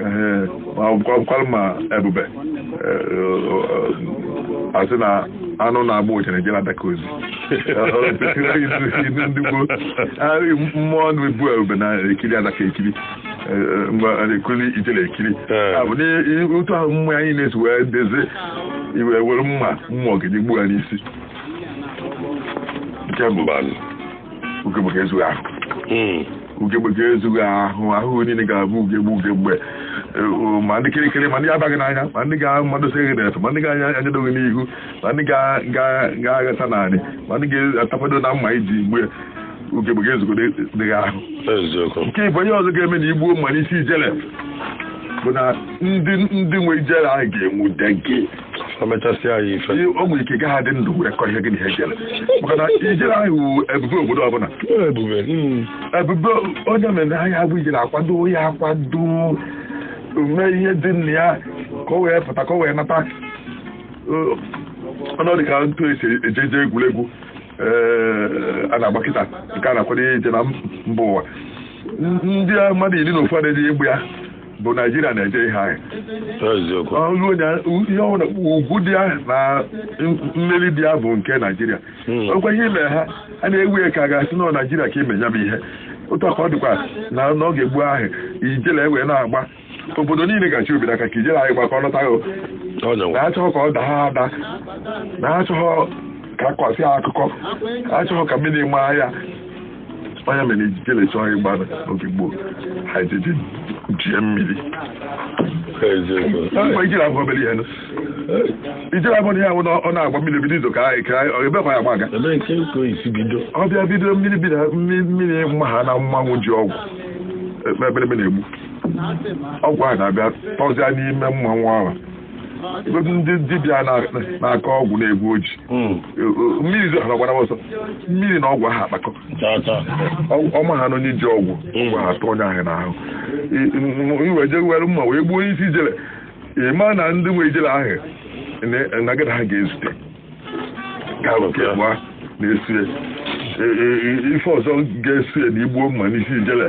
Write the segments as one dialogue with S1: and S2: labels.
S1: Ee, ma ọ bụkwa- bụkwara ma ebube Ee, ọ- ọ- asị na anụ na-agba ụchara eje na-adaka ozi Ilu ndị gboo arị mmụọ na-ebu ebube na-ekiri adaka ekiri Ee, ee, mgbe a na-ekiri ijele ekiri Ee. Ya bụ na i- i- otu ahụ mmụọ anyị na-esi wee dezi i wee were mma oge gị gbuo ya n'isi nke mbụ Mbanụ. ugegbe ga-ezu gị ahụ ugegbe ga-ezu gị ahụ ahụ niile ga-abụ ugegbe ugegbe eh, ma ndị kirikiri ma ndị ga-aba gị n'anya ma ndị ga-amadosi gị n'efe ma ndị ga-anyado gị n'ihu ma ndị ga- ga- ga-aghasa n'anị ma ndị ga-atapado na mma i ji gbu ya ugegbe ga-ezugodu gị ahụ eziokwu nke ịbụọ ihe ọzọ ga-eme na i gbuo mma n'isi ijele bụ na ndị ndị nwe ijele ahụ ga-enwude gị o mechasịa ya ife Ihe- o nwere ike ị gaghị adị ndụ wee kọọ ihe gị na ihe jere maka na ijele ahụ wụ ebube obodo ọbụla ebube mm. ebube onye mere a ya-agba ijele akwado ya akwado mee ihe dị na ya ka o wee pụta ka o wee nata Ọ- ọ na-adị ka otu esi eje eje egwuregwu ee, a na-agba kịta nke a na-akwado ya ije na mba ụwa ndị mmadụ iri na ofu adịghị egbu ya bụ naijiria na-eje ihe ahụ eziokwu ọlụ onye ihe ọbụla ugwu dị ya na mmeri dị ya bụ nke naijiria Hmm. ọkwa ihe i me ha a na-ewe ya ka a ga-asị na ọ naijiria ka i me ya bụ ihe otu a ka ọ dịkwa na n'oge gboo ahụ ijele wee na-agba obodo niile ga-achị obi n'aka ka ijele ahụ gba ka ọ lọta ya o. ọ nyanwa na achọghọ ka ọ daa ada na achọghọ ka a kọsị akụkọ achọghọ ka mmiri maa ya onye mere ijele chọọ ịgba n'oge gboo ha ejeje jie mmiri ijele abụghọ obere ihe ijele abụghọ ihe ahụ ọ na-agba mmiri bido izo ka anyị ka ebekwa ya agba aga ọ bịa bido mmiri bido mmiri mahana mmanwụ ji ọgwụ ebelebe na-egbu ọgwụ ahụ na-abịa tọzịa n'ime mmanwụ ahụ Ebe ndị dibịa na- na-akọ ọgwụ na-egbu oji Mm. mmiri zo ha gbara ọsọ mmiri na ọgwụ ahụ akpakọ Cha cha. Ọ- ọ mahana onye ji ọgwụ ọgwụ ahụ atọ onye ahụ n'ahụ I- m- m wee jee were mma wee gbuo onye isi ijele ị ma na ndị nwe ijele ahụ na- na gị na ha ga-ezute ga-alụ ka ịbụa na-esie ife ọzọ ga-esie na i gbuo mma n'isi ijele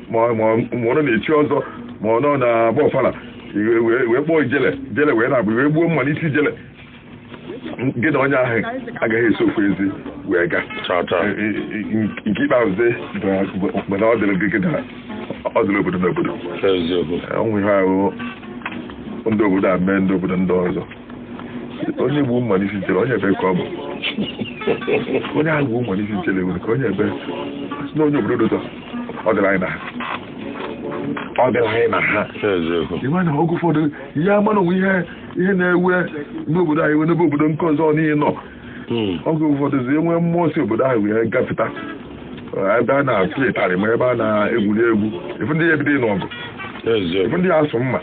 S1: ma ọ- ma ọ- ma ọ nọ na-echi ọzọ ma ọ nọ na-agba ọfala wee- wee wee kpọọ ijele ijele wee na-agba i wee gbuo mma n'isi ijele gị na onye ahụ agaghị eso ofu ezi wee gaa Chọta. E- e- e- nke ikpeazụ dị bụ- bụ na ọ dịrị gị gị na ọ dịrị obodo na obodo Eziokwu. ọnwụ ihe ahụ ndị obodo a mee ndị obodo ndị ọzọ onye gbu mma n'isi ijele onye ebe ka ọ bụ onye ahụ gbu mma n'isi ijele nwere ka onye ebe si na onye obodo dụtọ ọ dịla anyị na ha ọ dịla anyị na ha ịma na oge ụfọdụ ihe ama na o nwe ihe ihe na-eme n'obodo anyị wee n'ebe obodo nke ọzọ niile nọ hmm. oge ụfọdụzi e nwe mmụọ si obodo ahụ wee gafeta ebe a na-apụ ịtarị ma ebe a na-egwuri egwu ị fụ ndị a ebido ịnụ ọgụ ị fụ ndị a asụọ mma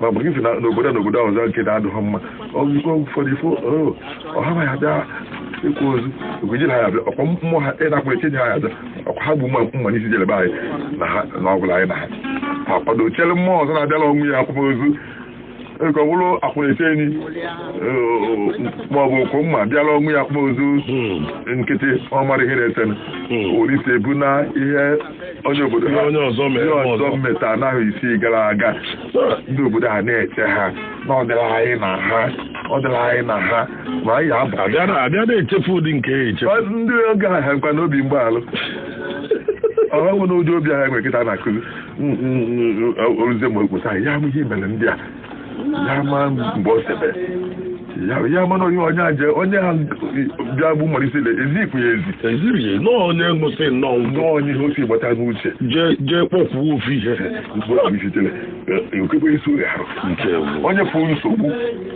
S1: ma ọ bụ gị si na n'obodo n'obodo ahụ ọzọ nke na-adịghị mma oge ụfọdụ ị fụ oh, ọha ma ya bịa ịkwa ozu egwejiri ha ya bịa ọkwa mmụọ ha ịnakwa ekenye ha ya bịa ọkwa ha gbu mma n'isi ijele be anyị na ha na ọgwụla anyị na ha ha kwado chere mmụọ ọzọ na-abịala ọnwụ ya akwamozu nke ọ bụrụ akwụna-eche enyi ma ọ bụ okwu mma bịala ọnwụ ya akwamozu nkịtị ọ mara ihe na-esenụ olise bụ na ihe onye obodo ha onye ọzọ mere ihe ọzọ ọzọ meta n'ahọ isii gara aga ndị obodo ha na-eche ha na ọ dịla anyị na ha ọ dịla anyị na ha ma anyị aba abịa na- abịa na-echefu
S2: ụdị nke ya echefu Ọ- ndị oge ahụ ha
S1: nkwa n'obi mgbaalụ ọha nwere ụdị obi ahụ e nwe kịta na-akụzi oruzie ma okposa ya ama ihe mere ndị a ya ama mgbe o sebe ya ya ama na onye onye aje onye ha bịa gbu mma n'isi ezipụ ya ezi eziri ya nọọ
S2: onye nwụsị nnọọ ngwọ nọọ onye ihe o si
S1: gbata n'uche jee jee kpọkwuo
S2: ofu ihe mgbe o sitere
S1: okekwe isi oge ahụ nke onye fụ nsogbu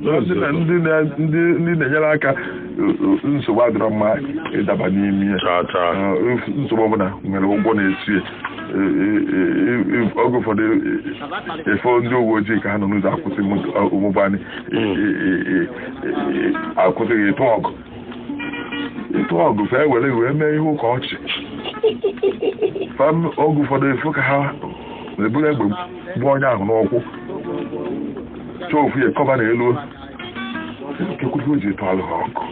S1: na ndị na- ndị na- ndị- ndị na-enyere aka uh, nsogbu adịrọ mma ịdaba n'ime ya taa taa Uh, if- nsogbu ọbụla nwere ụgwọ na-eso ya. E- e- e- e- oge ụfọdụ e- e- ị fụ ndị uwe ojii ka ha nọ n'ụzọ akwụsị moto- uh, ụgbọala e- e- e- e- e- akwụsịghị ịtụ ọgụ ịtụ ọgụ fa ewere wee mee ihe ụka ọchị fam oge ụfọdụ ị fụ ka ha eburu egbe gbuo onye ahụ n'ụkwụ chọọ ofu ya kọba na elu kekwuzi o ji etu alụ ha ọkụ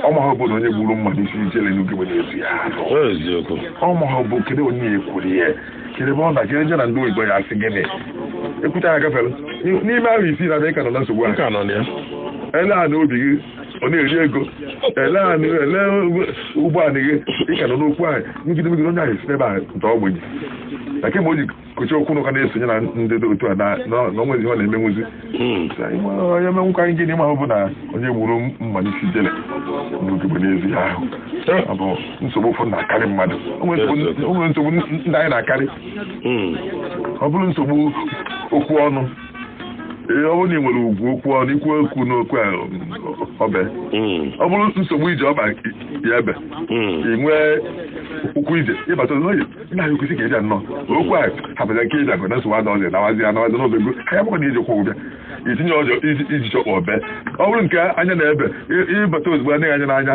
S1: ọma ha bụ na onye gburu mma n'isi ijele n'ugwu igbe na-esi ya arụ eziokwu ọma ha bụ kedu onye ya ekwuru ya kedu ebe ọ nọ kedu je na ndị oyibo ya asị gịnị ekwucha ya gafere n'ime ahọ isii na abịa ka nọ na nsogbu a ka nọ na ya e lee anị obi gị ọ na-eri ego e lee anị e lee ụgbọ anị gị ị ka nọ n'okwu ahụ ngide megide onye ahụ si n'ebe a nta ogbenye na kemgbe o ji kochi okwu n'ụka na-esonye na ndị dị otu a na na na o nwezi ihe ọ na-emenwuzi onye menwụkwa anyị gịnị ma ọ bụ na onye gburu mma n'isi ijele n'ogigbe n'ezi ahụ ọ bụ nsogbu ụfọdụ na-akarị mmadụ o nwere nsogbu- o nwere nsogbu ndị anyị na-akarị ọ bụrụ nsogbu okwu ọnụ Ee, ọ bụrụ na ị nwere ugwu okwu ọnụ i kwuo okwu n'okwu a, o bee Mm, ọ bụrụ nsogbu ije ọba ya ebe mm. ị nwee ụkwụ ije ịbata n'oyi nna ya kwesị ka ịbịa nnọọ okwu a hapụta nke ịbịa gụ na nsogbu ada ọzọ nawazi ya nawazi n'ebe ego ka ya bụkwa na iji kwụ ụbịa itinye ọjọ iji chọkpọ o bee ọ bụrụ nke anya na ebe ị- ịbata ozugbo anaghị anya n'anya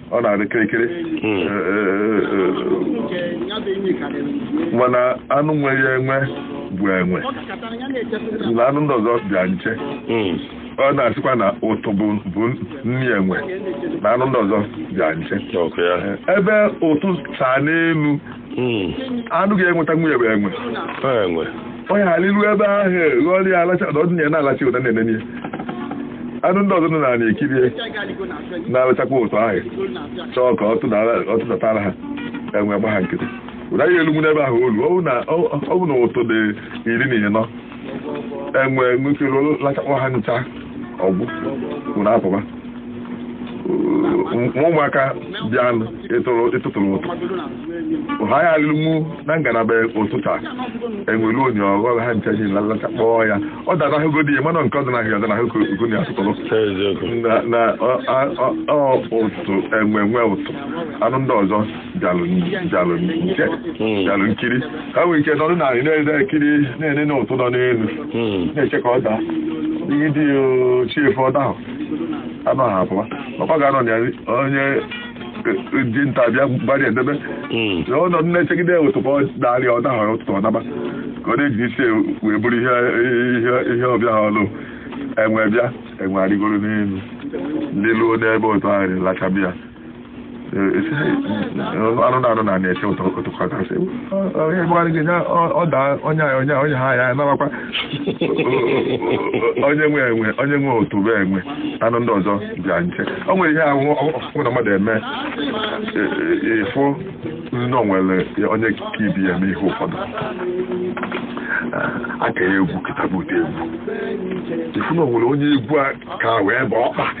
S1: ọ na-adị kirikiri hmm. eh, eh, eh, mana anụ nwe ya enwe bụ enwe na anụ ndị ọzọ bịa nche hmm. ọ na-asịkwa na ụtụ bụ nri enwe na anụ ndị ọzọ bịa nche ebe ụtụ saa n'elu hmm. anụ ga-enwetanwu ya bụ enwe ọ nya ga-arịru ebe ahụ ghọrọ ya alacha na ọdịnye na-alacha ụtụ na-enenye anụ ndị ọzọ nọ n'ana ekiri ya na-alachakwa ụtụ ahụ chọọ ka ọ tụdatara ha enwe gba ha nkịtị ụda ya elu n'ebe ahụ olu ọ bụ na ụtụ dị iri na ịnọ enwe nwere ike lachakwa ha ncha ọ gwụ ọ na-apụba ma ụmụaka bịa ịtụrụ ụtụ ha ya alụmụ na ngalaba ụtụ chaa enwe luo nya ọ ghọọ ha ncha ji lachakpọọ ya ọ dara ahụgo di ya mana nke ọ dị n'ahịa ọdana ahụgo ugo na asụtụrụ na ụtụ enwe nwe ụtụ anụ ndị ọzọ bịalụ nke hmm. bịalụ nkiri ha nwere ike nọdụ n'ana na-ekiri na-enene ụtụ nọ n'elu hmm. na-eche ka ọ daa ihe dị chi efo ọ dahụ anaghị apụwa ọkwa ga-anọ na ya onye dinta bịa gbarịa edebe hmm. ọ nọ n'ana echegide ụtụ ka ọ dalị ọ dahọrọ ụtụtụ ọ naba ka ọ na-eji isi wee buru ihe ọ bịalụ enwe bịa enwe arịgoro n'elu lịluo n'ebe ụtụ ahụ lachaba ya anụ na anụ nọ na-eche ụtụ ụtụkọtasị onye gbara gị ọ daa onye anyị onye onye ha ya narakwa onye nwe enwe onye nwe ụtụ bụ enwe anụ ndị ọzọ bịa nche o nwere ihe ahụ ọkụ na mmadụ eme ị fụ na o nwere onye ka ibe ya eme ihe ụfọdụ aka ya egwu kịta bụ ụdị egwu ị fụ na o nwere onye egwu a ka wee bụ ọkpa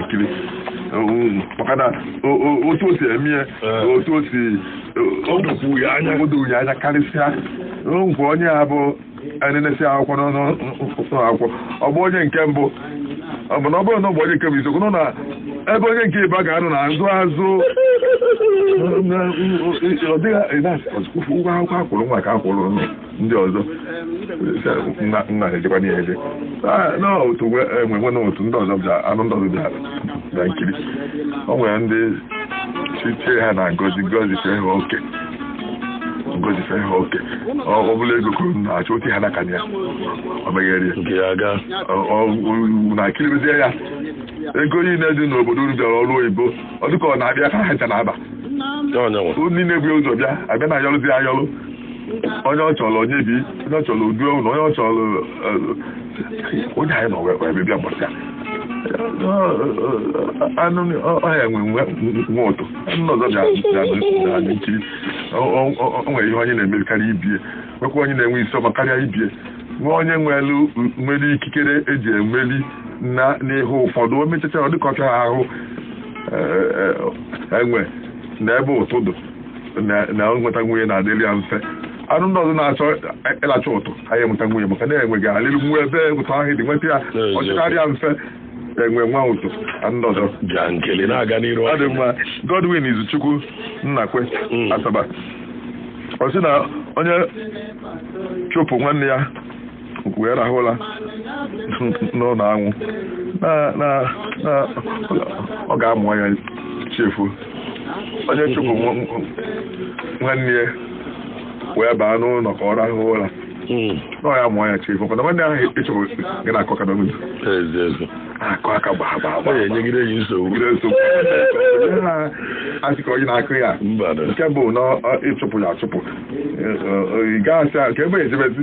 S1: nkiri maka otu o si eme ya otu o si edokwu ya anya edokwu ya anya karịsịa nke onye a bụ e nenesịa akwụkwọ n'ụnọ akwụkwọ ọ bụ onye nke mbụ ọ bụ na ọ bụrụ na ọ bụ onye nke bụ isiokwu nọ na ebe onye nke ịbụa ga-anọ na azụ azụ ọ dịghị ụgwọ akwụkwọ a kwụrụ nwa a ka a kwụrụ nụ ndị ọzọ nna nna na-ejekwa n'ihe eje Ah, na ụtụ nwe enwe nwe na ụtụ ndị ọzọ bịa anụ ndị ọzọ bịa bịa nkiri o nwere ndị chichie ha na ngọzi ngọzi fee ha oke ngọzi fee ha oke ọ ọ bụla ego kwuru na-achọ otu ha n'aka ya ọ meghere ya nke ya aga Ọ- ọ- na-ekiribezie ya ego niile dị n'obodo unu bịara ọrụ oyibo ọ dịka ọ na-abịa ka ha ncha na-aba ya ọ nya nwa unu niile bu ụzọ bịa abịa na ayọrụzi ayọrụ onye ọ chọrọ onye bi onye ọ chọrọ udu ewu na onye ọ chọrọ eh, onye anyị nọ wee wee bịa gbasa anụ ọhịa enwe nwe nwe ụtụ anụ ọzọ bịa nkiri o nwere ihe onye na-emeri karịa ibie nwekwa onye na-enwe isi ọma karịa ibie nwee onye nwere nwere ikikere eji emeli na n'ihe ụfọdụ o mechacha ọ dịka ọhịa ahụ eh, eh, enwe na ebe ụtụ dị na- na nwetanwu ya na-adịrị ya mfe anụ ndị ọzọ na-achọ ịlacha ụtụ anaghị enwetanwu ya maka na enwe ga-alịrịnwu ebe ụtụ ahụ dị nweta ya ọ chịkarị ya mfe enwe nwe ụtụ anụ ndị ọzọ bịa nkili na-aga n'iru ọ dị mma godwin izuchukwu nnakwe Mm. asaba ọ sị na onye chụpụ nwanne ya wee rahụ ụra n'ụlọ ahụ na ọ ga-amụ anya chi efo onye chụpụ nwanne ya wee baa n'ụlọ ka ọ rahụ ụra na ọ ya-amụ anya chi efo mana nwanne ahụ ị chụpụ ga na-akụ aka n'obi akụ aka gbaa gbaa gbaa enyegide
S2: ya nsogbu
S1: asị ka onye na-akụ ya nke bụ na ị chụpụ ya achụpụ ị gaghị asị ka ebe ejebezi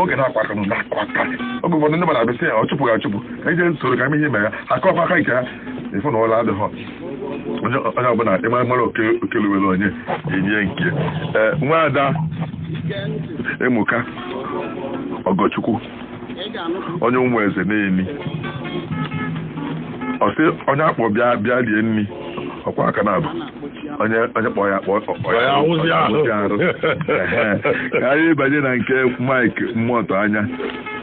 S1: oge na-akụ aka na-akụ aka oge ụfọdụ ndị mmadụ abịa sị ya ọ chụpụ gị achụpụ ka ije nsoro ka ihe ime ya akụkwa aka nke ha ị fụ na ụra adịghọ onye ọbụla ịmara mara okelewere onye enye nke nwa ada emuka ọgọchukwu onye ụmụeze neni ọ sị onye a kpọ bịa bịa rie nri ọ kwọọ aka naabọ onye onye kpọ ya kpọ kpọ Ọ ya awụzi ọ ahụ.
S2: awụzi arụ
S1: Ehe. ka anyị banye na nke Mike Mmụọtọ anya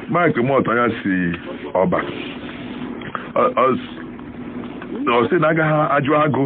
S1: Mike Mmụọtọ anya si ọba Ọ- ọ s- ọ sị na a gaghị ajụ agụ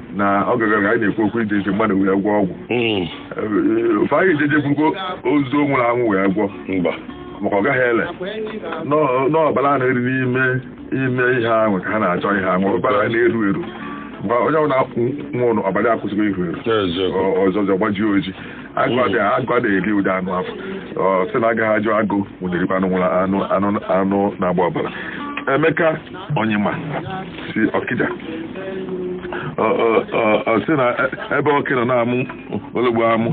S1: na oge gara aga anyị na-ekwu okwu iji iji mmadụ wee gwọ ọgwụ Mm, Ee, ọ fa ya-eje je bugo ozu o nwụrụ anwụ wee gwọ mba maka ọ gaghị ele Nọ- n'ọbara a na-eru n'ime ime ihe ahụ ka ha na-achọ ihe ahụ ọbara a na-eru eru mgbe onye ọbụla nwụrụ ọbara akwụsịgo iru eru eziokwu Ọ- ọzọ ọzọ gbajie oji agụ ada eri ụdị anụ afụ ọ sị na a gaghị ajụ agụ ọ da-erikwa anụ nwụrụ anwụ anụ anụ na-agba ọbara emeka onyema si ọkịja ọ sị na ebe oke nọ na-amụ ologbo amụ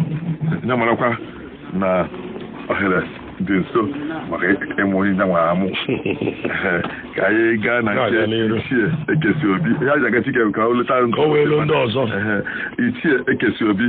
S1: ya marakwa na ohere dị nso maka ịmụ onye nyanwa amụ ka anyị gaa na nke ichie ekesi obi ya ji aga chike ka o leta ndị ọzọ
S2: ichie
S1: ekesi obi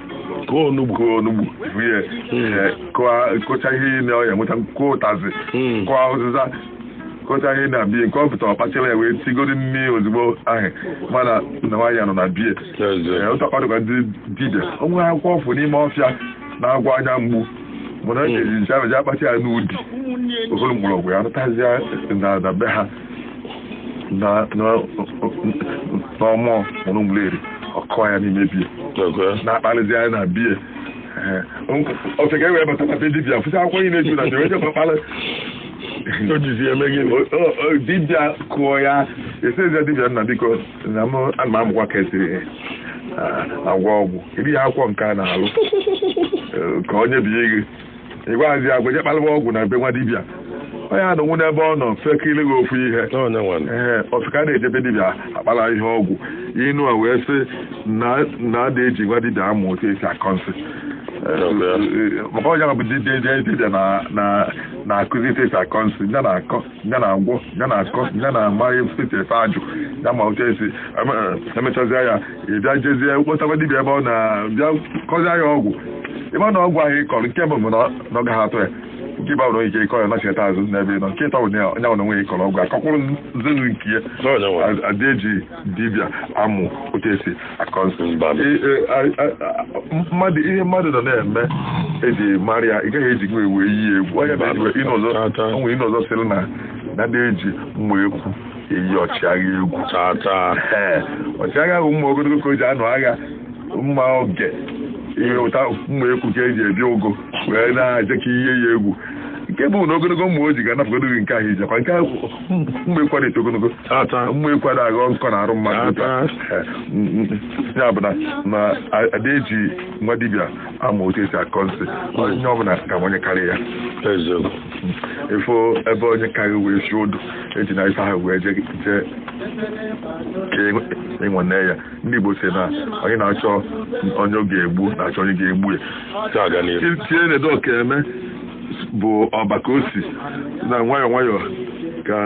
S1: kụọ onugbu kụọ onugbu tinye eh, kụọ- kụcha ihe niile ọ ya enweta kụọ ụtazị Mm. kụọ ụzịza kụcha ihe na be ya nke ọ pụtara ọ kpachara ya wee tigoro nni ozugbo ahụ mana na nwaanyị ya nọ na be ya Ee, otu a ka ọ dịkwa ndị dibịa o nwere akwụkwọ ọ fụ n'ime ọfịa na-agwọ anya mgbu mana ọ ga-eji nche ahụ ji akpata ya n'udi okoro mgbọrọgwụ ya natazịa na na be ha na na n'ọnụ ọnụ mmiri ọ kọọ ya n'ime be ya Okay. na-akpalịzi ya na be ya ofeke wee bata na be dibia fụsị akwụkwọ anyị na-eju na jewe jekwa kpalị O jizi eme gịnị? O- o- o- dibia kụọ ya ọ sịzi dibia nna biko na m ana m amụkwa ka esi ah, agwọ ọgwụ iri ya akwụkwọ nke a na-alụ eh, ka onye bi gị ị gwazi ya gweje kpalụwa ọgwụ na be nwa dibịa onye a nọ nwụọ n'ebe ọ nọ fekiri gị ofu ihe ee ofeke na-eje be dibịa akpara ihe ọgwụ inu a wee sị na ada eji nwa dibịa amụ otu esi akọ nsị maka onye bụ dibịa na-akụzi etu esi akọ nsị ya na-akọ ya na-agwọ ya na-akọ ya na-ama esi efe ajụ ya ma otu esi emechazia ya ị bịa jezie kpọtaba dibịa ebe ọ na-abịa kọzie ya ọgwụ ị ma na ọgwụ ahụ ị kọrọ nke mbụ bụ na ọ gaghị atụ ya nke ịbụa i nwere ike ịkọ ya nachita azụ n'ebe ị nọ nke ịtọ bụ na ya onwe ya ị kọrọ ọgwụ akọkwụrụ nzelu nke ya adị eji dibịa amụ otu esi akọ nsị Mba. I- e, a- a- a- mmadụ ihe mmadụ nọ na-eme eji mara ya ị gaghị eji ya wee yie egwu onye na eji inu ọzọ Tata. o nwere inu ọzọ sịrị na na adị eji mma ekwu eyi ọchịagha egwu tata Ee, ọchịagha bụ mma ogologo ka o ji anụ agha mma oge ihe ụta mma ekwu ka eji ebi ụgụ wee na-aje ka i yie ya egwu nke bụ na ogologo mma o ji ga-anapụgodo gị nke ahụ i jikwa nke ahụ mma ekwu adị eto ogologo Tata. mma ekwu ada aghọ nkọ na arụ mmadụ otu a. Tata. ya bụ na na ada eji nwa dibịa amụ otu esi akọ nsị onye ọbụla ga-ama onye karịa ya Eziokwu. ị fụ ebe onye karị wee si odu ejina ife ahụ wee je je ka ị nwanee ya ndị Igbo si na onye na-achọ onye ọ ga-egbu na-achọ onye ga-egbu ya Taa aga n'ihu. tinye na edo ka eme bụ ọba ka o si na nwayọọ nwayọọ ka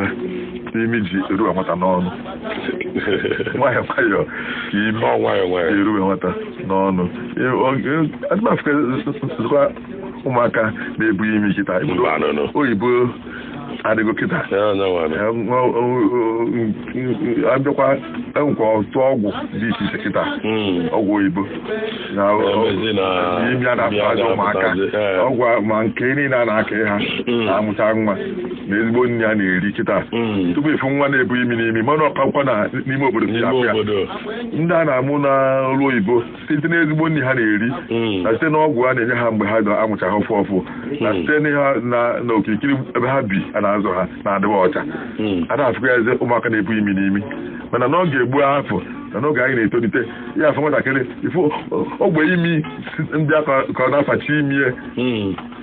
S1: imi ji eruwe nwata n'ọnụ nwayọọ nwayọọ ka imi Ọ nwayọọ nwayọọ. eruwe nwata n'ọnụ adị m afụkwa ụmụaka na-ebu imi kịta Mba, no, no. oyibo adịgo kịta abịakwa enwekwa ọtụtụ ọgwụ dị iche iche kịta hmm. ọgwụ oyibo imi a na-agbazị ụmụaka ọgwụ ma nke niile a na-aka ha hmm. na-amụta nwa na ezigbo nri a na-eri kịta hmm. tupu ị fụ nwa na-ebu imi n'imi mana ọ kakwa na n'ime obodo ndị a na-amụ n'ụlọ oyibo site n'ezigbo nri ha na-eri Mm. na site n'ọgwụ a na-enye ha mgbe a ga-amụcha ha ọfụụ ọfụụ na Mm. site n'ihe na na okirikiri ebe ha bi a na-azụ ha na-adịwa ọcha Mm. a da afụkwazi ụmụaka na-ebu imi n'imi mana n'oge gboo afụ na n'oge anyị na-etolite ị ya-afụ nwatakịrị ị fụ ogbe imi si- dịka ka ọ na-afachi imi ya Mm.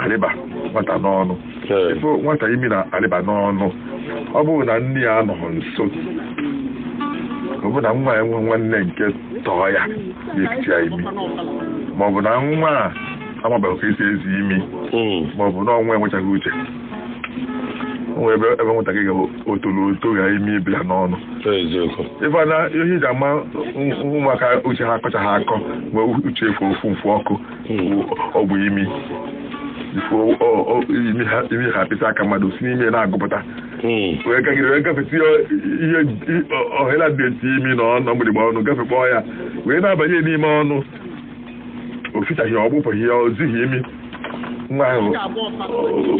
S1: arịba nwata n'ọnụ ị fụ nwata imi na-arịba n'ọnụ ọ bụrụ na nne ya anọghị nso ọ bụ na nwa ya nwe nwanne nke tọọ ya ya-efiti ya imi ma ọ bụ na nwa a amabeghị ka e si ezi imi ma ọ bụ na nwa a enwechaghị uche o nwee ebe ebe nwatakịrị ga-etolu oto ga imi ebila n'ọnụ ị fụ na ihe e ji ama ụmụaka uche ha akọchaghị akọ mgbe uche efu ofu mfu ọkụ ọ bụ imi imi ha apịta aka mmadụ si n'imi na-agụpụta wee gagide wee gafeta ihe ohele a dị etiti imi na ọnụ mgbịrịgba ọnụ gafekpọọ ya wee na-abanye n'ime ọnụ o fichaghị ọ gbụpụghị ya o zighị imi nwa ahụ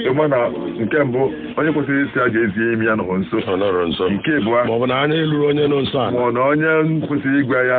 S1: ị ma na nke mbụ onye kwesịrị ịsị ya je zie imi ya anọrọ nso nke ịbụa ma ọ bụ na anya elurọ onye
S2: nọ nso ma ọ na onye
S1: kwesịrị ịgwa ya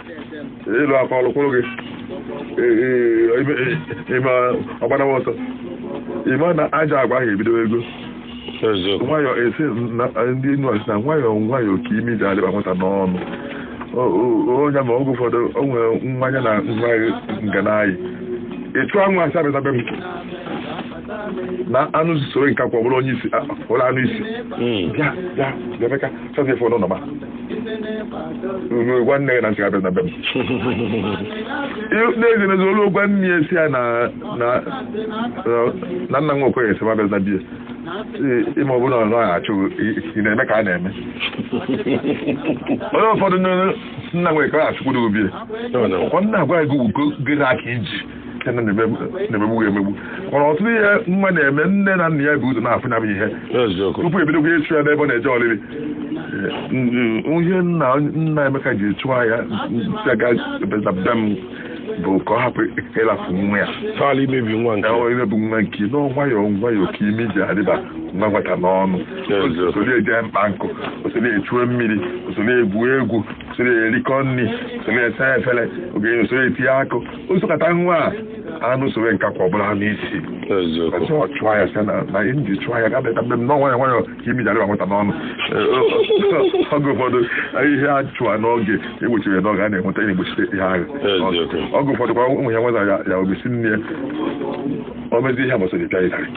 S1: ị lụọ aka ọ lụkwuru gị ị mee ọ gbanawa ọsọ ị ma na ajọ agwa ahụ ebidogo nwayọọ esi ndị enu ọ sị na nwayọọ nwayọọ ka imi ji arịba nwata n'ọnụ onye ma oge ụfọdụ o nwere nwa ya na nwa m ga na-ayị ị chụọ nwa a sị abịana be m na anụ soro nkakwụ bụrụ onye isi bụrụ anụ isi hmm. bịa bịa bịa Emeka chazi efe n'ụlọ ma gwa nne gị na m sị abịana be m n'ezie n'ezie o luo gwa nne ya sị ya na nna nwa Okoye sị m abịana be ya ị ma ọbụla ọzọ a achụ ị na-eme ka a na-eme oge ụfọdụ nna nwere ka a achụkwuru obie ọ na-agwa gị ugo gịrị aka iji nne na-emegbu ya emegbu mana ọtụtụ ihe nwa na-eme nne na nna ya bu ụzọ na-afụ ya bụ ihe eziokwu tupu e bidokwa ịchụ ya n'ebe ọ na-eje ọlịlị ihe nna nna Emeka ji chụọ ya sị ya abịana be m bụ ka ọ hapụ ịlafu nwa ya tọọla imebi nwa
S2: nke Ee, imebi nwa nke ya na
S1: nwayọọ nwayọọ ka imi ji arịba nwa nwata n'ọnụ Eziokwu. o solu ya je mkpa nkụ o solu ya chuo mmiri o solu ya gwuo egwu o solu ya rikọọ nri o solu ya saa efere oge o solu ya tinye akụ o sokata nwa ahụ anụ sowe nkakwụ ọ bụrụ anụ isi ọ chụọ ya sị na ihe o ji chụọ ya abatana be m na nwayọ nwayọ ka imi ji arịba nwata n'ọnụ oge ụfọdụ ihe a chụọ n'oge e gbochie ya n'oge a na-enweta na-egbochite ihe ahụ oge ụfọdụ kwa ụmụ ya nweta ya o mesi nne ya o mezi ihe a gbasara ịpịa ịtarị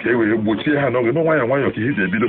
S1: ka e wee gbochie ha n'oge na nwayọ nwayọ ka ihe ji ebido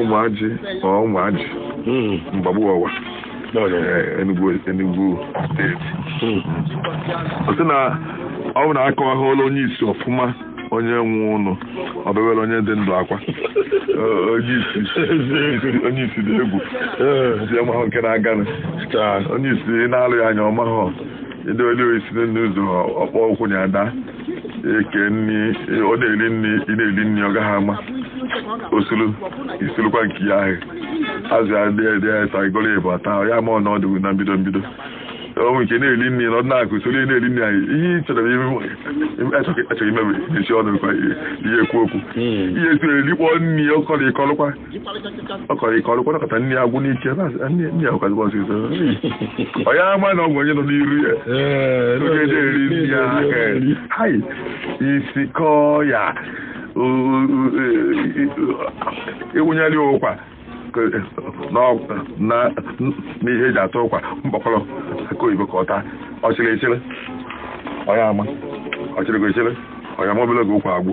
S1: ụmụajị na ụmụajị hmm. mgbagbu ọwa eh, Enugu steeti hmm. ọ sị na ọ bụ na akọwaghịla onye isi ọfụma onye nwụnụ o bewere onye dị ndụ akwa onye isi dị egwu si amahụ nke na-aganụ onye isi na-alụ ya anya ọ mahụ ndị oli isi n'ụzọ ọ kpọ ụkwụ na ada e kee nri ọ na-eri nri ị na-eri nri ọ gaghị ama o suru i surukwa nke ya ahụ azụ ya dị dị ya ta igoro ịbụ ata ya ma ọ na ọ dịbu na mbido mbido o nwe nke na-eri nri na ọ na-akụ usoro ị na-eri nri anyị ihe ị chọrọ echọghị imebi esi ọnụ kwa ihe ekwu okwu ihe esiri erikpọ nri ọ kọrọ ị kọrọkwa ọ kọrọ ị kọrọkwa nakọta nri agwụ n'ike nri agwụkazikwa ọsịsọ ọ ya ama na ọ bụ onye nọ n'iru ya onye na-eri nri ya aka hai isi kọọ ya ị wụnyere ya ụkwa n'ihe eji ata ụkwa mkpokoro akị oyibo ka ọ taa ọ chịrị ị chịrị ọ ya ama ọ chịrịgo ị chịrị ọ ya ama obele oge ụkwa agwụ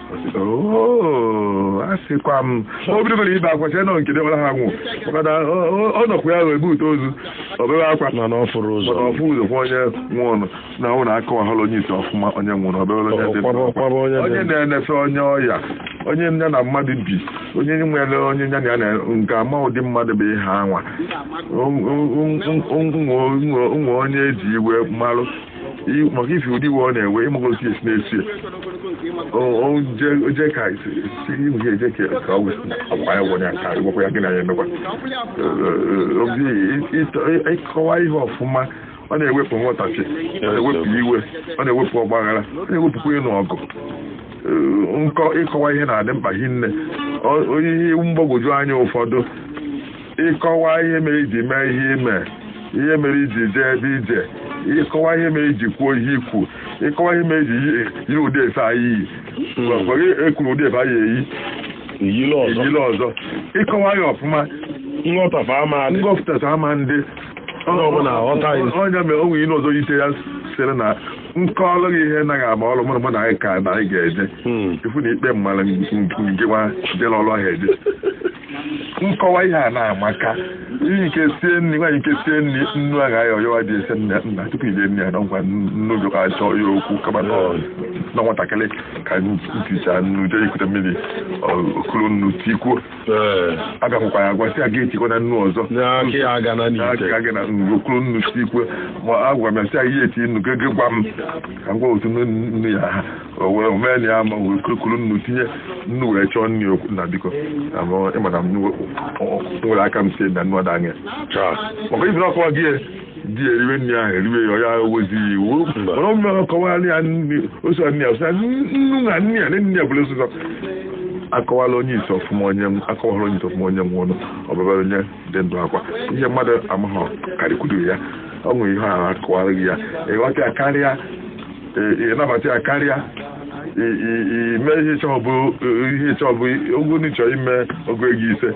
S1: Oo, a sịkwa m o bidogoro ibe akwa chee na ọ nke dewara ha nwụ maka na ọ- ọ- ọ nọkwa ya ebute ozu o bebe akwa na ọ fụrọ ụzọ mana ọ fụ ụzọ kwa onye nwụrụ anwụ na akọwahụrụ onye isi ọfụma onye nwụrụ o bebe onye dị ndụ. Kwaba- kwaba onye dị onye ndụ. na-enefe onye ọya onye ya na mmadụ bi onye nwere onye ya na ya nọ ga-ama ụdị mmadụ bụ ihe anwa nwe onye eji iwe malụ maka ife ụdị iwe ọ na-ewe ịmagosi esi na-esi oje ka ihe eje ka ka ọ agwa ya gwanya ka ịgwakwa ya gị na ya emekwa ịkọwa ihe ọfụma ọ na-ewepụ nghọtachi ọ na-ewepụ iwe ọ na-ewepụ ọgbaghara ọ na-ewepụkwa ịnụ ọgụ nkọ ịkọwa ihe na-adị mkpa hinne o nwe ihe mgbagwoju anya ụfọdụ ịkọwa ihe mere iji mee ihe ime ihe mere iji jee ebe ije ịkọwa ihe mere iji kwuo ihe ikwu ịkọwa ihe mere iji yi- yi ụdị efe anyị iyi Ọkwa gị ekwuru ụdị efe anyị eyi iyile ọzọ eyile ọzọ ịkọwa ya ọfụma nghọtafe ama adị ngọpụtata ama adị Onye ọbụla aghọta ya. onye mere o nwe ihe ọzọ ite ya sịrị na m kọọlụ gị ihe naghị ama ọrụ mụrụ mụ na anyị ka na anyị ga-eje Hmm. ifu na ikpe mmadụ nke nwa jere ọrụ ahụ eje nkọwa ihe a na-amaka ihe nke sie nri nwaanyị nke sie nri nnu agha ya ọyọwa dị ese nna nna tupu ide nri ya na ngwa nnu jụka achọ ya okwu kama na ọ- na nwatakịrị ka m ticha nnu jee ikute mmiri ọ- o kuru nnu tikwuo Ee. agwahụkwa ya agwa si aga etikwana nnu ọzọ N'aka ya aga na n'ite. N'aka gị na nnu o kuru nnu tikwuo ma agwa m ya si aga ya eti nnu gị gị gwa m ka m gwa otu nnu nnu ya ha o wee mee na ya ama wee kurukuru nnu tinye nnu wee chọọ nri o kwuo na biko na m ịma na m nwe- ọ- ọ- nwere aka m sie na nnu ada anya maka ife na ọ kọwa gị ya, di ya eriwe nri ahụ eriwe ya ọ ya ewezi ya iwe mana ọmụme ahụ kọwara ya nri o si nri ya sị ya, nnu na nri ya na nri ya bụla osụzọ akọwala onye isi ọfụma onye m akọwara onye isi ọfụma onye nwụrụ anwụ ọ bebara onye dị ndụ akwa ihe mmadụ amaghọ karịkwuru ya ọ nwere ihe ahụ akọwara gị ya ịghọta ya karịa ịnabata ya karịa ime ihe ịchọ bụ ihe ịchọ bụ ogo n'ị chọrọ ime ogo ego ise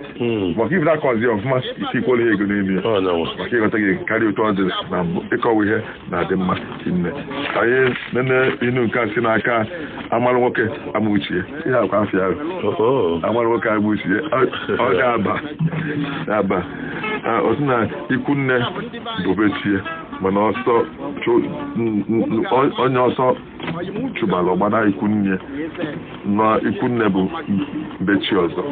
S1: maka ife na-akọzi ọfụma ike ikwere ihe ego n'elu ya maka ịghọtago karịa otu ọ dị na mbụ ịkọwa ihe na-adị mma nne anyị nene inu nke a si n'aka amara nwoke ama uche ya ihe akwa afịa ahụ amara nwoke ama uche ya ọ ga-aba aba ọ sị na ikwu nne bụ bechi mana ọsọ chụ- n- n- on- onye ọsọ chụbara ọ gbana ikwunne na ikwunne bụ bechi ọzọ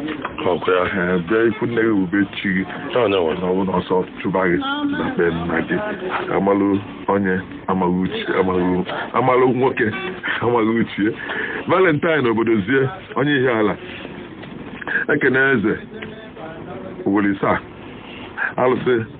S1: ọkwa ya na be ikwunne gị bụ bechi gị na ọ bụ na ọsọ chụba gị na be nna gị amalụ onye amaghị uche amaghị amalụ nwoke amaghị uche ya valentine obodozie onye ihiala ekene eze owere saa alụsị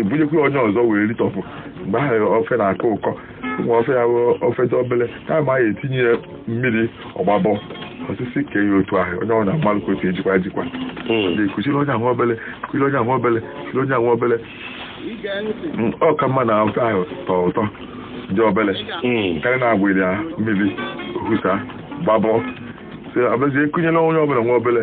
S1: ebunyekwa onye ọzọ wee ritọpụ mgbe ahụ ofe na-akọ ụkọ nwa ofe ya ofe dị obele kama ya etinye ya mmiri ọ gbabọ o sisikwa ya otu ahụ onye ọ na-amalụ ka otu ejikwa ejikwa kuchiri onye ahụ obele kuchiri onye ahụ obele kuchiri onye ahụ obele ọ ka mma na ofe ahụ tọọ ụtọ dị obele karịa na agbari ya mmiri o husa gbabọ a bịazie kunyere onye ọbụla nwa obele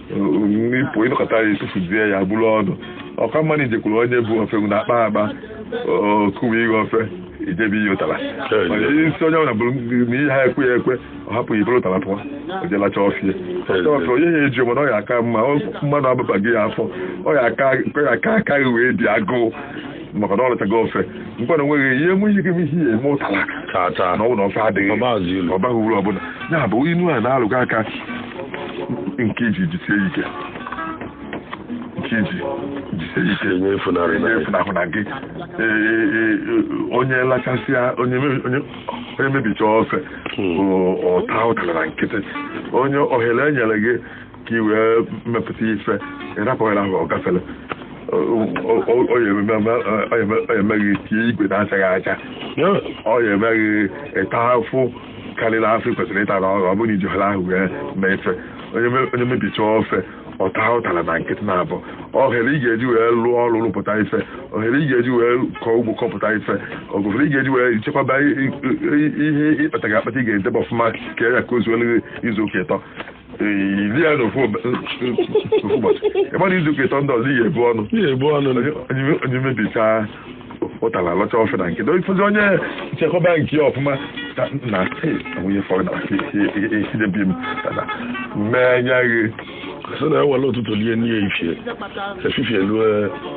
S1: n'ipụ ịnọkọta ya etufuzie ya buru ọnụ ọ ka mma na ijekwuru onye bu ofe na akpa akpa o kuwe gị ofe ijebe ihe ụtara isi onye ọbụla bụrụ na ihe ha ekwe ya ekwe ọ hapụ gị buru ụtara pụọ o je lachaa ofe ya ofe onye ya eji mana ọ ya aka mma na ọ ababa gị afọ ọ ya aka ka gị wee dị agụụ maka na ọ lachago ofe mkpa na onweghị ihe enwe ihe gịm ihe eme ụtala tata na ọ bụ na ofe adịghị ọ baghị uru ọbụla ya bụ inu a na-alụ gị aka nke iji jisie ike nke iji jisie ike enye efunarị na efunahụna gị onye lachasịa onye mebicha ofe ọ taa ụtara na nkịtị onye ohere enyere gị ka i wee mepụta ife ị rapụ ohere ahụ ọ gafere ọ ya eme gị tie igwe na-achaghị acha ọ ya eme gị ịta afụfụ karịrị afụfụ kwesịrị ịta na ọ bụrụ na i ji ohere ahụ wee mee ife onye mebicha ofe ọ taa ụtara na nkịtị na-abụ ohere ị ga-eji wee lụọ ọrụ rụpụta ife ohere ị ga-eji wee kọọ ugbo kọpụta ife ohere ị ga-eji wee chekwaba ihe ị kpatago akpata ị ga-edebe ọfụma ka ya ka o zuo izu ụka ịtọ i rie ya n'ofu ụbọchị ị ma na izu ụka ịtọ ndị ọzọ i ya-ebu ọnụ i ya-ebu ọnụ onye mebicha ụtara lacha ofe na nkịtị ị fụzi onye chekwaba nke ya ọfụma na nwunye fọrọ na esidebi m mee anya gị so na e
S2: were ụtụtụ lie nni efifie efifie lue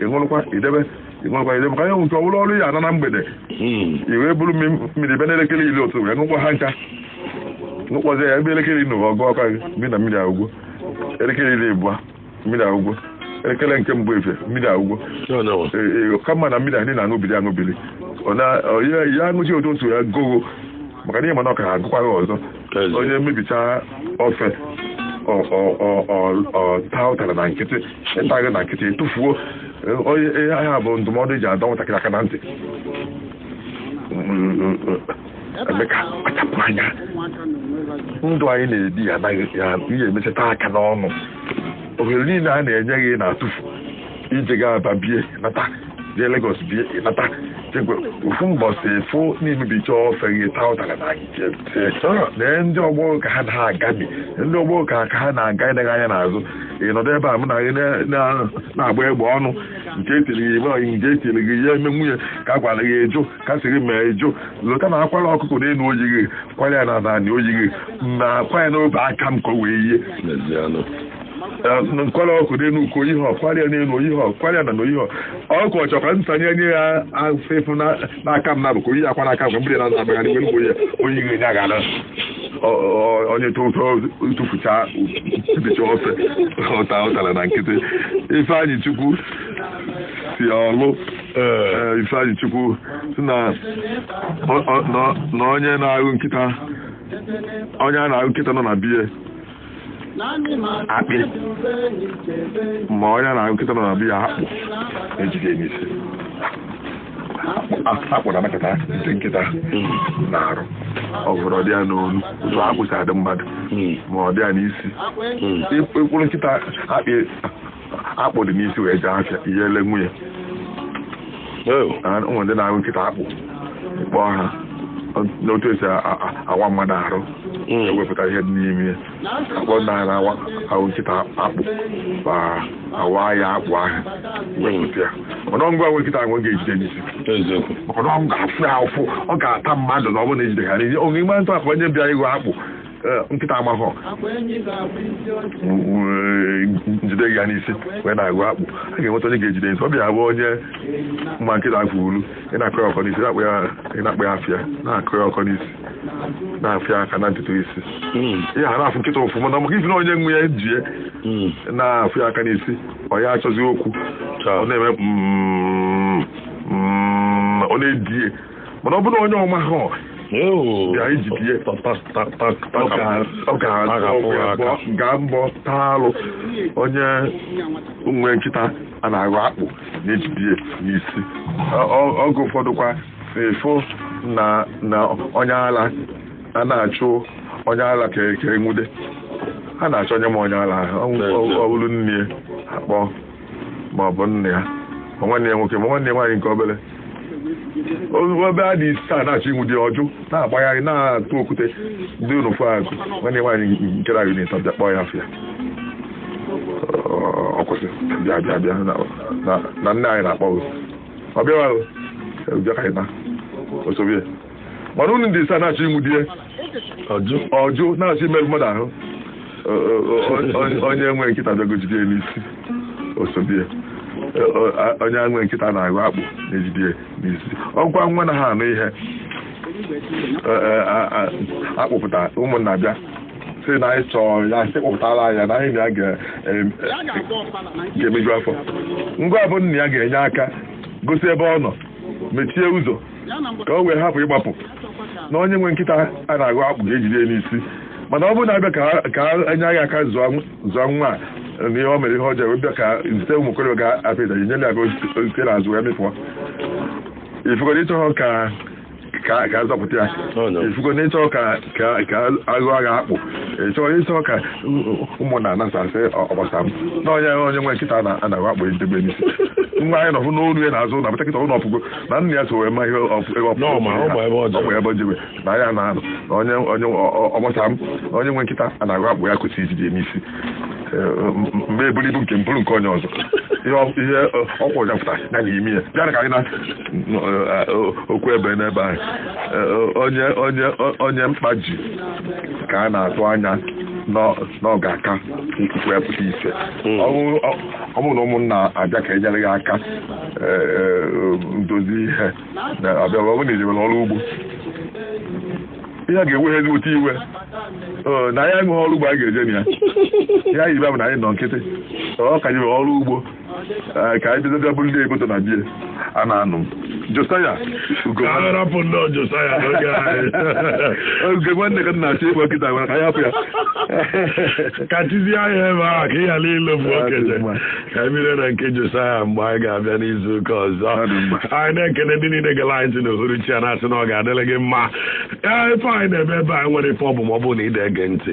S1: ị ṅụrụkwa idebe ị ṅụrụkwa idebe ka ihe nwụta ọ bụrụ ọrụ ya ana na mgbede hmm. i wee buru mmiri ebe n'elekere iri ụtụtụ wee ṅụkwa ha ncha ṅụkpọzie ya ebe elekere iri na ọ gụọkwa gị mmiri na mmiri agwụgwọ elekere iri abụọ mmiri agwụgwọ elekere nke mbụ efifie mmiri agwụgwọ kama na mmiri anyị na-aṅụbili aṅụbili ya aṅụchi otu otu ya gogo maka na ị ma na ọ ka ya agụkwa gị ọzọ Ezi. onye mebichaa ofe ọ- ọ- ọ- ọ- ọ taa ụtara na nkịtị ị taghị na nkịtị ị tụfuo eh, onye ihe a bụ ndụmọdụ e ji adọ nwatakịrị aka na ntị ime ka a kpachapụ anya ndụ anyị na-ebi ya anaghị ya ihe emecha taa aka n'ọnụ ohere niile a na-enye gị na-atụfu i jegaa Aba bie nata jee Lagos bie nata chekwa ofu mbọsị fụ na i mebicha ofe gị taa ụtara na nkịtị lee ndị ọgbọ ka ha na-agami ndị ọgbọ ka ka ha na-aga ị daghị anya n'azụ ị nọdụ ebe a mụ na gị na- na- na-agba egbe ọnụ nke etiri gị ebe ọyị nke etiri gị ya eme nwunye ka a gwara gị ejo ka sị gị mee ejo lụta na a kwara ọkụkọ n'elu o yighị kwara ya n'anị o yighị na a kwa ya n'obe aka m ka o wee yie n'ezianụ m kwara ọkụkọ n'elu uko o yighị a kwara ya n'elu o yighị a kwara ya n'anị o yighị ọkụkọ chọ ka m sanye nye ya afọ efu n'aka m nabọ ka o yie akwa n'aka m mgbe mgbere na-azụ abagharị mgbe mgbe onye ihe ya gara onye tụfucha mebicha ofe ọ taa ụtara na nkịtị Ifeanyịchukwu si ọlụ Ifeanyịchukwu sị na onye na-ahụ nkịta onye a na-ahụ nkịta nọ na be ya akpị ma onye ya na nkịta nọ na be ya akpụ ejide n'isi akpụ na-amakọta ndị nkịta n'arụ ọ bụrụ ọ dị ya n'onu otu akpụ si adị mmadụ ma ọ dị ya n'isi ị kpụrụ nkịta akpị akpụ dị n'isi wee jee afịa ihe ele nwunye ụmụ ndị na-agha nkịta akpụ kpọọ ha n'otu esi awa mmadụ arụ hmm. ewepụta ihe dị n'ime ya akpọ ndị anyị na-awa ahụ nkịta akpụ ma awa ya akpụ ahụ hmm. wepụta ya mana ọ ngwa nwe nkịta ahụ ga-ejide n'isi maka na ọ ga-afụ ya ụfụ ọ ga-ata mmadụ na ọ bụrụ na ejide ha onye mmadụ akpụ onye bịa ịgha akpụ eh, nkịta amahọ jide ya n'isi wee na-agha akpụ a ga-enweta onye ga-ejide n'isi ọ bịa abụ onye ma nkịta afụ olu ị na-akọ ya ọkọ n'isi na-akpọ ya ị na-akpọ ya afa na-akọ ya ọkọ n'isi na-afịa aka na ntutu isi ihe a na-afụ nkịta ụfụ mana maka ifi na onye nwe ya jie na-afịa ya aka n'isi ọ ya achọzi okwu ọ na-eme mm, mm, ọ na-edie mana ọ bụrụ onye ọ mahọ bịa ijidie ọ gbaa mbọ taa alụ onye nwe nkịta a na-agha akpụ na-ejide n'isi oge ụfọdụkwa ị fụ na onye ala a na-achụ onye ala ka enwude a na-achọ onye ma onye ala ọ bụrụ nne ya akpọ ma ọ bụ nna ya ma nwanne ya nwoke ma nwanne ya nwaanyị nke obere ebe a ndị isi a na-achọ inwudi ya ọ jụ na-agbagharị na-atụ okwute dị n'ofu akụ nwanne nwaanyị nke na unit bịa kpọọ ya afa ọ kwụsị bịa bịa bịa na nne anyị na-akpọ ọ bịawa bịa ka anyị naa o sobe mana unu ndị isi a na-achọ inwudi ya ọ jụ ọ jụ na-achọ imerụ mmadụ ahụ O- o- o- onye- onye nwe nkịta bịago jide ya n'isi o sobie onye nwe nkịta a na-agha akpụ na-ejide ya n'isi ọ kwa nwa na-aha anụ ihe Ee, ee, a- a- akpụpụta ụmụnna bịa sị na anyị chọrọ ya sị kpụpụtara anyị ya na anyị na ya ga- em- ga-emeju afọ ngwa bụ nna ya ga-enye aka gosi ebe ọ nọ mechie ụzọ ka o wee hapụ ịgbapụ na onye nwe nkịta a na-agha akpụ ga-ejide ya n'isi mana ọ bụrụ na abịa ka enye anyị aka zụọ nwa a na ihe o mere ihe ọjọọ wee bịa ka zite ụmụ okorobịa ga-apịa ịtali ị nyere ya aka o site n'azụ wee mịpụọ ị fugo na ị chọghọ ka ka ka azọpụta ya ị fugo na ị chọghọ ka ka ka a gha agha akpụ ị chọghọ ị chọghọ ka ụmụnna anasasị ọgbasa m na onye onye nwe nkịta a na-agha akpụ ejide n'isi nwa anyị nọfụ n'olu ya na-azụ na bụta kịta ụlọ ọpụgo na nna ya so wee ma ihe ebe jebe na ya na anụ na onye onye ọgbasa m onye nwe nkịta a na-agụ akpụ ya kwesịrị ijide ya n'isi mgbe eburu ibu nke mpụrụ nke onye ọzọ ihe ọkwụ ụja pụta ya na ime ya bịara ka anyị na okwu ebe n'ebe anyị onye onye onye mkpa ji ka a na-atụ anya na ọ ga-aka ikwu ya pụta ise ọ bụrụ na ụmụnna abịa ka enyere ya aka ndozi ihe na-abịa ọ bụrụ na ejewere ọrụ ugbo ihe a ga-enweghị ezigbo otu iwe Ee, na anyị enweghị ọrụ ugbo anyị ga-eje na ya ya yibe bụ na anyị nọ nkịtị ọ ka nyere ọrụ ugbo ee, ka anyị bidoga bụrụ ndị eboto na bie a na-anụ Josaya ugo arapụ ndị ọjọsa ya n'oge anyị oge nwanne ka m na-achọ ịgba nkịta gwara ka anyị hapụ ya
S2: ka tizie anya ebe ahụ ka ị ghara ilofu okenye ka anyị bido na nke Josaya mgbe anyị ga-abịa n'izu ụka ọzọ anyị na-ekene ndị niile gara anyị ntị n'uhuruchi a na-asị na ọ ga-adịrị gị mma ee ife anyị na-eme ebe anyị nwere ife ọ bụ ma ọ bụrụ na ị na-ege ntị